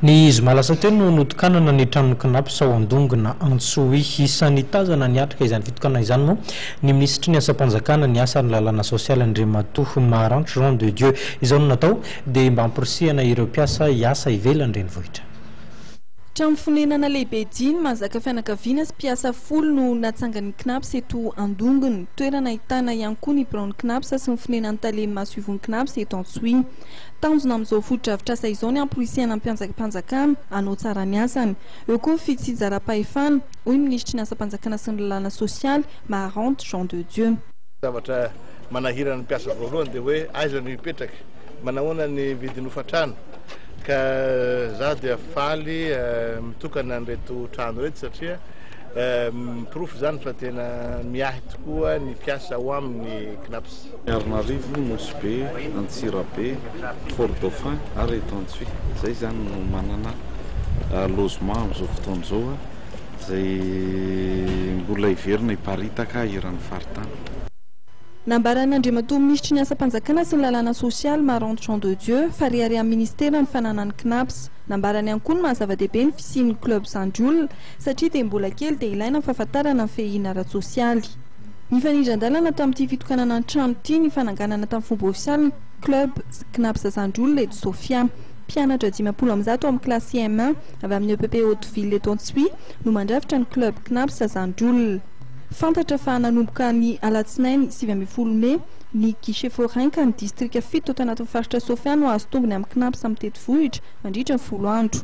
Ny zoma lasa teo no notokanana ny tranon'ny Cnaps ao Andongona, Antsohihy. Isan'ny tazana niatrika izany fitokanana izany moa ny minisitry ny Asam-panjakana, ny asa ary ny lalàna sosialy, Andriamatoa Maharano Jean de Dieu. Izao no natao dia mba hamporisihana ireo mpiasa hiasa ivelan'ny renivohitra. Trano fonenana lehibe dimy mahazaka fianakaviana sy mpiasa folo no natsangan'ny Cnaps eto Andongona. Toerana ahitana ihany koa ny biraon'ny Cnaps sy ny fonenan'ny tale masoivohon'ny Cnaps eto Antsohihy. Tanjona amin'izao fotodrafitrasa izao ny hamporisihana ny mpianjaka-panjakana hanao tsara ny asany. Eo koa ny fitsinjaram-pahefana, hoy ny minisitry ny asam-panjakana sy ny lalàna sosialy, Maharante Jean de Dieu. Zavatra manahirana ny mpiasa voalohany dia hoe aiza no hipetraka, manahoana ny vidin'ny hofan-trano ka izaho dia faly mitokana an'ireto trano ireto satria porofo izany fa tena miahy tokoa ny mpiasa ao aminy Cnaps. Miarinarivo, Nosy Be, Antsirabe, Fort Dauphin ary Etansy. Izay izany no manana logement amin'izao fotoana izao izay mbola heverina hiparitaka eran'ny faritany. Nambaran'Andriamatoa Minisitry ny Asam-panjakana sy ny Lalàna Sosialy, Maranto Jean de Dieu, fa reharehan'ny Minisitera ny fananan'ny Cnaps. Nambarany ihany koa ny maha-zava-dehibe ny fisian'ny Club Zandry Olona satria dia mbola kely dia ilaina ny fahafantarana ny fehiana ara-tsosialy. Nifanindran-dalana tamin'ity fitokanana ny trano ity ny fananganana tamin'ny fomba ofisialy ny Club Cnaps Azandroa Lejo Sofia. Mpianatra dimampolo amby zato ao amin'ny kilasy CM1 avy amin'ny epp Haute-Ville eto Antsohihy no mandrafitra ny Club Cnaps Azandroa. Fantatra fa nanomboka ny alatsinainy sivy ambin'ny folo mey ny Guichet Forain ka ny distrika fito ato anatin'ny faritra Sofia no hahazo tombony amin'ny Cnaps mitety vohitra mandritra ny folo andro.